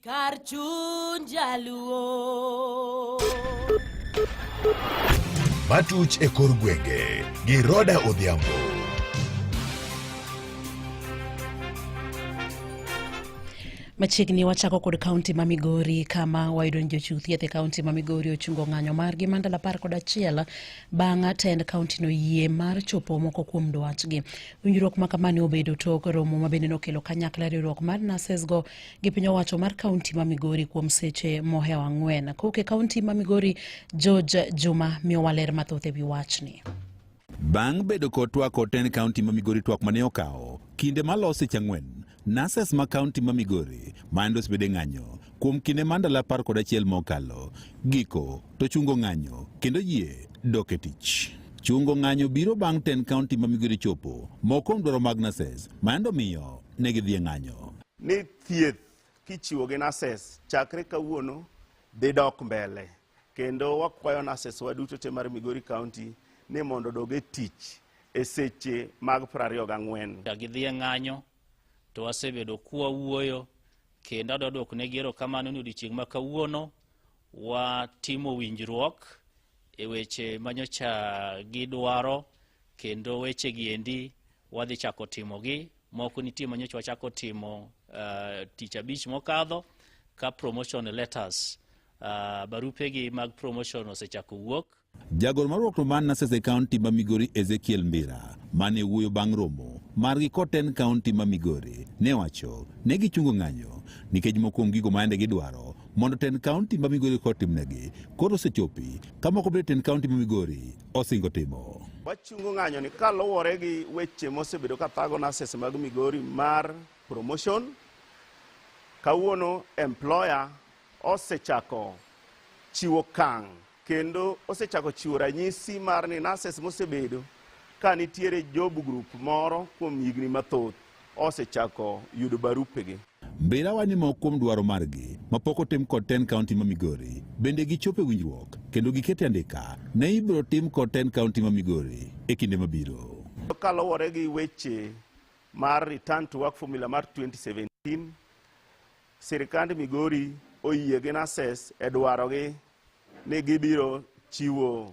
kar chuny jaluo. Matuch e kor gwenge gi Roda Odhiambo. Machiegni wachako kod kaunti ma Migori kama wayudo ni jochiw thieth e kaunti ma Migori ochungo ng'anyo margi ma ndalo apar kod achiel bang' tend kaunti no yie mar chopo moko kuom dwachgi. Winjruok ma kamani obedo tok romo ma bende nokelo kanyakla riwruok mar nasesgo gi piny owacho mar kaunti ma Migori kuom seche mohewo ang'wen. Kowuok e kaunti ma Migori, George Juma miyowa ler mathoth e wi wachni. Bang' bedo kod twak oten kaunti ma Migori twak mane okawo kinde malose chang'wen Nurses ma kaunti ma Migori mayande osebede ng'anyo kuom kinde ma ndalo apar kod achiel mokalo giko to chungo ng'anyo kendo yie dok e tich. Chungo ng'anyo biro bang' ten kaunti ma Migori chopo moko kuom dwaro mag nurses mayande omiyo ne gidhi e ng'anyo. Ni thieth kichiwo gi nurses chakre kawuono dhi dok mbele. kendo wakwayo nurses wa duto te mar Migori County ni mondo odog e tich e seche mag piero ariyo gang'wen. Ka gidhi e ng'anyo to wasebedo kwa wuoyo kendo adwa dwoko ne gero kamano ni odiochieng' ma kawuono watimo winjruok e weche manyocha gidwaro kendo weche gi endi wadhi chako timogi. Moko nitie ma nyocha wachako timo uh, tich abich mokadho ka promotion letters uh, barupegi mag promotion osechako wuok. Jagoro mar Ruokno man Nasese County ma Migori Ezekiel Mbira mane wuoyo bang' romo margi koten County ma Migori ne wacho ne gichungo ng'anyo nikech moko kuom gigo maende gidwaro mondo ten County ma Migori kotimnegi koro osechopi ka moko bende ten County ma Migori osingo timo. Wachungo ng'anyo ni kaluwore gi weche mosebedo ka thago nurses mag Migori mar promotion, kawuono employer osechako chiwo kang' kendo osechako chiwo ranyisi mar ni nurses mosebedo ka nitiere job group moro kuom higni mathoth osechako yudo barupegi. Mbira wa ni moko kuom dwaro margi mapok otim kod ten kaunti ma Migori bende gichopo e winjruok kendo gikete andika ne ibiro tim kod ten kaunti ma Migori e kinde mabiro. Kaluwore gi weche mar return to work formula mar 2017 sirikand Migori oyie gi NASES e dwarogi ni gibiro chiwo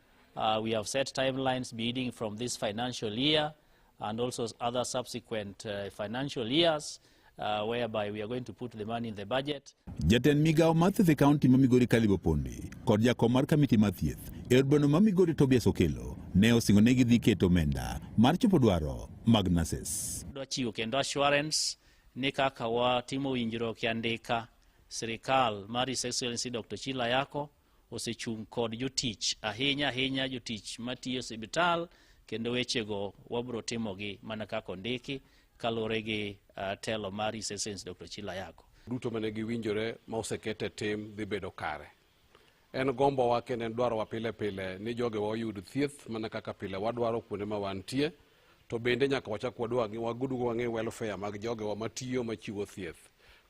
Uh, we have set timelines beginning from this financial year and also other subsequent uh, financial years uh, whereby we are going to put the money in the budget. Jatend migawo mar thieth e kaunti ma Migori Caleb Opondi kod jakom mar kamiti mar thieth e od bweno ma Migori Tobias Okelo ne osingo ne gidhi keto omenda mar chopo dwaro mag nurses. Dwachiwo kendo assurance ni kaka watimo winjruok ya ndika sirikal mar His Excellency Dr. Chila Yako osechung' kod jotich ahinya ahinya jotich matiyo e sibital kendo wechego wabiro timogi mana kaka ondiki kaluwore gi uh, telo mar East Essence Dr. Chilayago. duto mane giwinjore ma oseket e tim dhi bedo kare. En gombowa kendo en dwarowa pile pile ni jogewa oyud thieth mana kaka pile wadwaro kuonde ma wantie. to bende nyaka wachak wadwa wadugo wang'e welfare mag jogewa matiyo machiwo thieth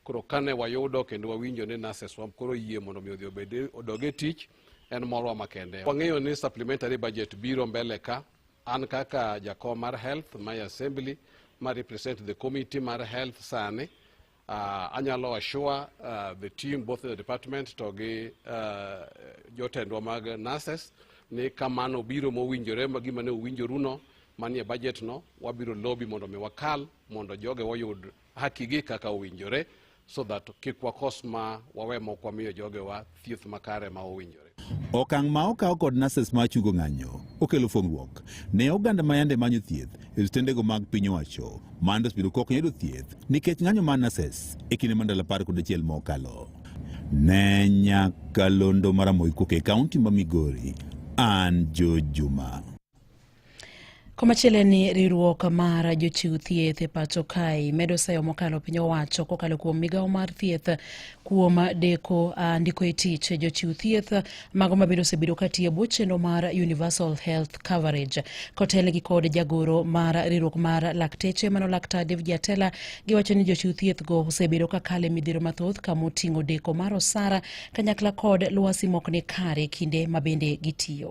koro kane wayudo kendo wawinjo ni nurses wa koro yie mondo mi odhi obed odog e tich en morwa makende wang'eyo ni supplementary budget biro mbele ka an kaka jakom mar health my assembly ma represent the committee mar health sani Uh, anyalo assure uh, the team both the department to gi uh, jotendwa mag nurses ni kamano biro mowinjore ma gima ne uwinjoruno manie budget no wabiro lobby mondo mi wakal mondo joge wayud hakigi kaka owinjore so that kik wakos ma wawe mok wamiyo jogewa thieth makare ma owinjore Okang' ma okaw kod nurses ma chungo ng'anyo okelo fuong'ruok ne oganda ma yande manyo thieth e osiptendego mag piny owacho ma yande osebedo kok yudo thieth nikech ng'anyo mar nurses e kinde ma ndalo apar kod achiel mokalo. Ne nyakalondo mar Amoy Koke, kaunti ma Migori, an George Juma. Komachielo ni riwruok mar jochiw thieth e pacho kae medo sayo mokalo piny owacho kokalo kuom migawo mar thieth kuom deko uh, ndiko e tich jochiw thieth mago mabende osebedo katiyo bwo chenro mar universal health coverage kotelnegi kod jagoro mar riwruok mar lakteche mano laktar David Jatela giwacho ni jochiw thieth go osebedo kakalo e midhiero mathoth kama oting'o deko mar osara kanyakla kod lwasi mok ni kare kinde mabende gitiyo.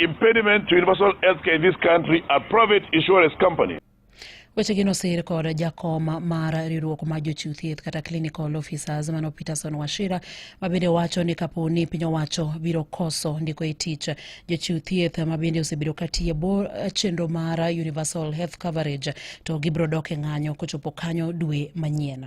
Impediment to universal healthcare in this country are private insurance companies. Wechegi nosir kod jakom mar riwruok mar jochiw thieth kata clinical officers mano Peterson Washira ma bende wacho ni kapo ni piny owacho biro koso ndiko e tich jochiw thieth ma bende osebedo ka tiyo bor chenro mar universal health coverage to gibiro dok e ng'anyo kochopo kanyo dwe manyien.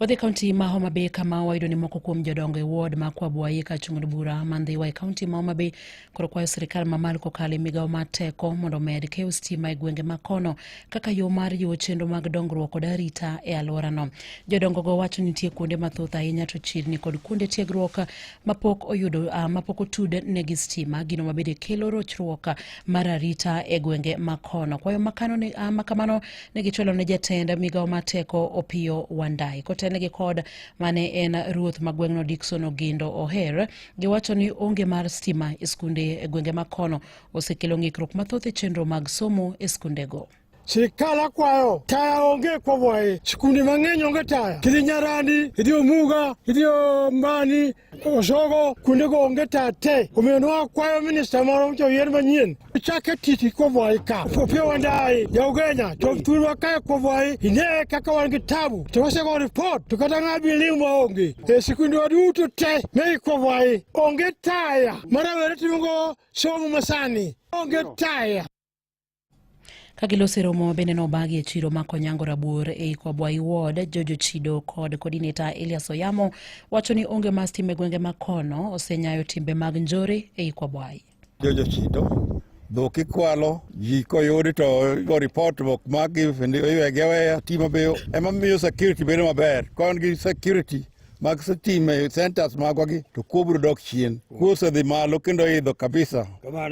Wadhi kaunti ma Homa Bay kama wayudo ni moko kuom jodongo e ward ma Kwabuayi ka chung'od bura ma Ndhiwa e kaunti ma Homa Bay koro kwayo sirkal ma malo kokalo e migawo mar teko mondo omed keyo stima e gwenge ma kono kaka yo mar jiwo chenro mag dongruok kod arita e alworano. Jodongogo wacho nitie kuonde mathoth ahinya to chirni kod kuonde tiegruok mapok oyudo uh, mapok otud negi stima gino mabende kelo rochruok mar arita e gwenge ma kono. Kwayo makano, uh, makamano ne gichwalo ne jatend migawo mar teko Opiyo Wandayi kotelnegi kod mane en ruoth ma gweng'no Dickson Ogindo Oher giwacho ni onge mar stima e skunde e gwenge ma kono osekelo ng'ikruok mathoth e chenro mag somo e skundego. Sirikal akwayo taya onge kwomwaye, sikunde mang'eny onge taya, kidhi Nyarandi, idhi Omuga, idhi Ombani, Oshogo kuonde go onge tate omiyo ne wakwayo minista moro mochako yien manyien chake titi kobwayi ka opio wandayi jaugenya chok thurwa kae kobwayi ine kaka wan gi tabu to wasego ripot to kata ng'a bi ling' maonge e sikundwa duto te mei kobwayi onge taya ma rawere timogo somo masani onge taya kagiloso romo bende nobagi e chiro ma konyango rabuor ei kwabwai ward jojo chido kod kodineta elias oyamo wacho ni onge mas time gwenge ma kono osenyayo timbe mag njore ei kwabwai jojo chido dhok ikwalo ji koyudi to go report bok magi iwege weya timo biyo ema miyo security bedo maber ka wan gi security mag sitima e centers magwagi to kuo biro dok chien. Kuo osedhi malo kendo idho kabisa.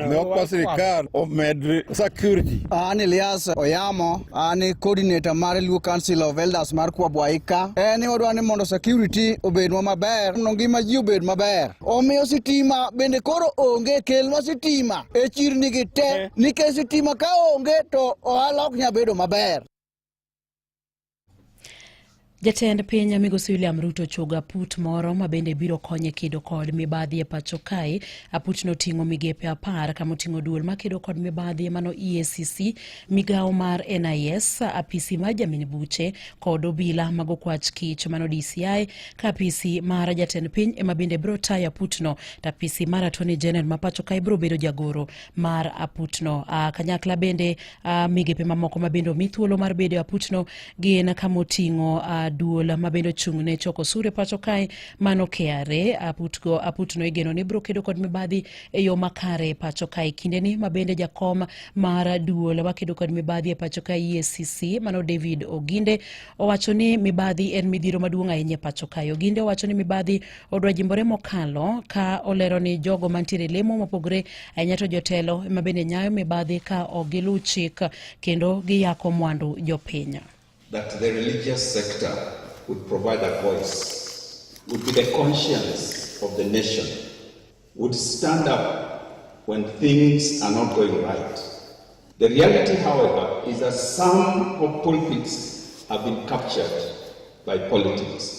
Ne okwa sirikal omed security. An Elias Oyamo, an e coordinator mar Luo Council of Elders mar Kwa Bwaika. En ni wadwa ni mondo security obedwa maber, mondo ngima ji obed maber. Omiyo sitima bende koro onge, kelnwa sitima e chirni gi te, eh. nikech sitima ka onge to ohala ok nya bedo maber. Jatend piny migosi William Ruto ochogo aput moro ma bende biro konye kedo kod mibadhi e pacho kae. Aputno oting'o migepe apar kama oting'o duol ma kedo kod mibadhi mano EACC, migawo mar NIS, apisi mar jamin buche kod obila mag okwach kich mano DCI, ka apisi mar jatend piny ema bende biro tayo aputno to apisi mar Attorney General ma pacho kae biro bedo jagoro mar aputno. A, ah, kanyakla bende Uh, migepe mamoko ma bende omi thuolo mar bedo e aputno gin kama oting'o uh, duol ma bende ochung' ne choko sure pacho kae mano KRA aputgo aputno igeno ni biro kedo kod mibadhi e yo makare e pacho kae kindeni ma bende jakom mar duol makedo kod mibadhi e pacho kae EACC mano David Oginde owacho ni mibadhi en midhiro maduong' ahinya e pacho kae Oginde owacho ni mibadhi odwa jimbore mokalo ka olero ni jogo mantiere lemo mopogore ahinya to jotelo ema bende nyayo mibadhi ka ok giluw chik kendo giyako mwandu jopiny. That the religious sector would provide a voice, would be the conscience of the nation, would stand up when things are not going right. The reality, however, is that some of pulpits have been captured by politics.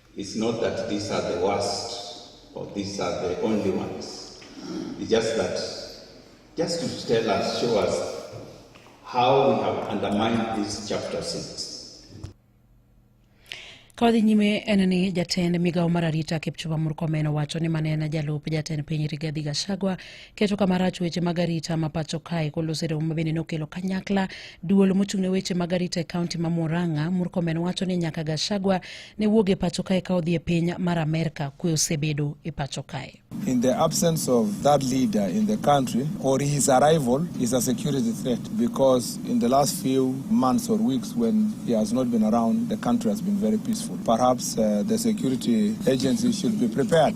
It's not that these are the worst or these are the only ones. It's just that, just to tell us, show us how we have undermined this chapter 6. Kawadhi nyime en ni jatend migawo mar arita Kipchumba Murkomen owacho ni mane en jalup jatend piny Rigathi Gachagua keto kama rach weche mag arita ma pacho kae kolos e romo ma bende nokelo kanyakla duol mochung' ne weche mag arita e kaunti ma Murang'a. Murkomen wacho ni nyaka Gachagua ne wuog e pacho kae ka odhi e piny mar Amerka, kwe osebedo e pacho kae. In the absence of that leader in the country or his arrival is a security threat because in the last few months or weeks when he has not been around the country has been very peaceful. Perhaps uh, the security agencies should be prepared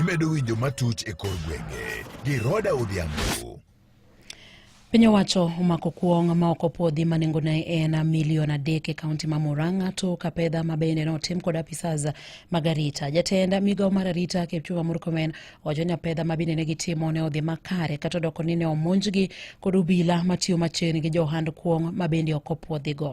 Imedo winjo matuch e kor gwenge gi Roda Odhiambo. Piny owacho omako kuong' ma ok opwodhi ma nengone en milion adek e kaunti ma Murang'a to Kapedha ma bende notim kod apisas mag arita. Jatend migawo mar arita Kipchumba Murkomen owacho ni apedha ma bende ne gitimo ne odhi makare kata odoko ni ne omonjgi kod obila matiyo machiegni gi johand kuong' ma bende ok opwodhigo.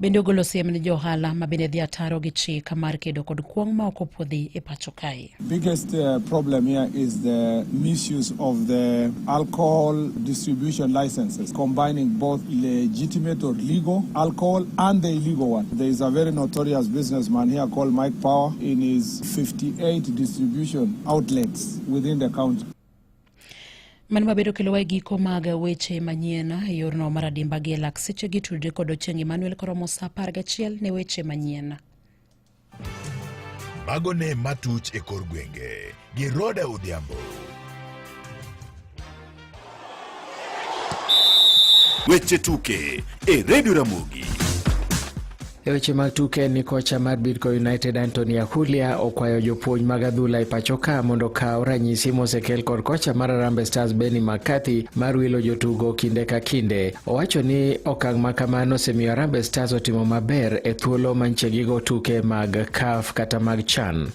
Bende ogolo siem ne jo ohala ma bende dhi ataro gi chik mar kedo kod kuong' ma ok opuodhi e pacho kae. Biggest uh, problem here is the misuse of the alcohol distribution licenses combining both legitimate or legal alcohol and the illegal one. There is a very notorious businessman here called Mike Power in his 58 distribution outlets within the county. Mano mabedo kelowa e giko mag weche manyien e yorno mar adimba gi elak seche gi tudre kod Ochieng' Emmanuel koromo sa apar gachiel ne weche manyien. Mago ne matuch e kor gwenge gi Roda Odhiambo. Weche tuke e Redio Ramogi. E weche mag tuke ni kocha mar Bidco United Anthony Ahulia okwayo jopuonj mag adhula e pachoka mondo okaw ranyisi mosekel kod kocha mar Harambee Stars Benni McCarthy mar wilo jotugo kinde ka kinde. Owacho ni okang' ma kamano osemiyo Harambee Stars otimo maber e thuolo manchegigo tuke mag CAF kata mag CHAN.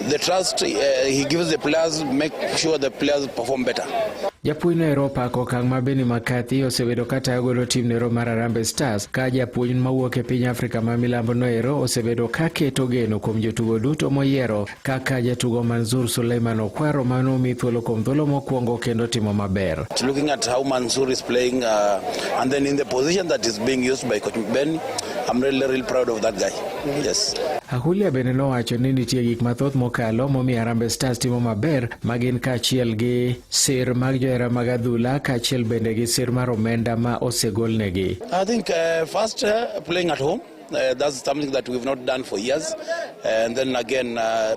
The trust, uh, he gives the players, make sure the players perform better. Japuonj no Europa ko kang ma Benni McCarthy osebedo ka tayo golo tim no mar Harambee Stars ka japuonj ma wuok e piny Afrika ma milambo no ero osebedo ka keto geno kuom jotugo duto moyiero kaka jatugo Manzur Suleiman Okwaro ma nomi thuolo kuom thuolo mokwongo kendo timo maber. Looking at how Manzur is playing uh, and then in the position that is being used by coach Benni, I'm really, really proud of that guy. Yes. Ahulia bende nowacho ni nitie gik mathoth mokalo momiyo Harambee Stars timo maber ma gin kaachiel gi sir mag johera mag adhula kaachiel bende gi sir mar omenda ma osegolnegi. I think uh, first uh, playing at home Uh, that's something that we've not done for years. And then again, uh,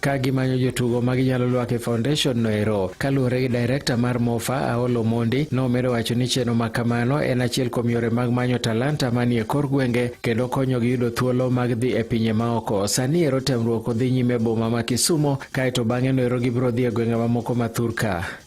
ka gimanyo jotugo ma ginyalo lwak e foundation no ero. Kaluwore gi direkta mar Mofa Aolo Mondi, nomedo wacho ni chenro ma kamano en achiel kuom yore mag manyo talanta manie kor gwenge kendo konyogi yudo thuolo mag dhi e pinye maoko. Sani ero temruok odhi nyime boma ma Kisumo, kaeto bang'e no ero gibiro dhi e gwenge mamoko ma thurka.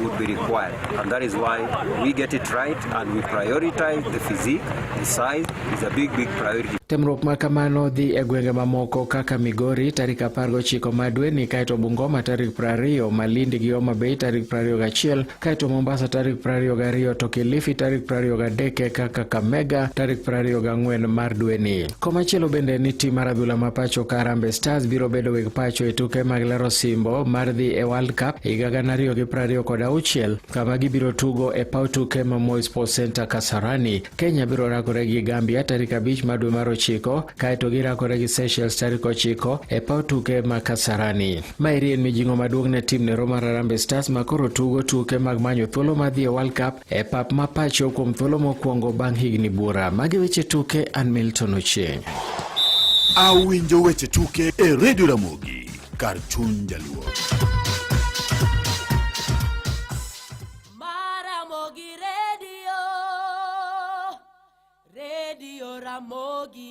would be required. And that is why we get it right and we prioritize the physique, the size is a big, big priority. Temruok ma kamano dhi e gwenge mamoko kaka Migori tarik 19 ma dweni, kaeto Bungoma tarik 20, Malindi gi Homa Bay tarik 21, kaeto Mombasa tarik 22 to Kilifi tarik 23 kaka Kamega tarik 24 mar dweni. Komachielo bende ni tim mar adhula ma pacho ka Harambee Stars biro bedo weg pacho e tuke mag laro simbo mar dhi e World Cup higa gana ariyo gi prariyo kod auchiel kama gibiro tugo e paw tuke ma Moi Sports Center Kasarani. Kenya biro rakore gi Gambia tarik abich mar dwe mar ochiko kaeto girakore gi Seychelles tarik ochiko e paw tuke ma Kasarani. Maeri en mijing'o maduong' ne tim nero mar Harambee Stars ma koro tugo tuke mag manyo thuolo mar dhi e World Cup e pap ma pacho kuom thuolo mokwongo bang' higni buora. Magi weche tuke an Milton Ochieng'. Awinjo weche tuke e redio Ramogi kar chuny jaluo. Maramogi redio, redio Ramogi.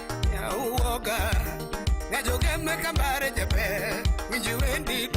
Nyauoga, ng'ajo gembe kambare jaber, winji wendi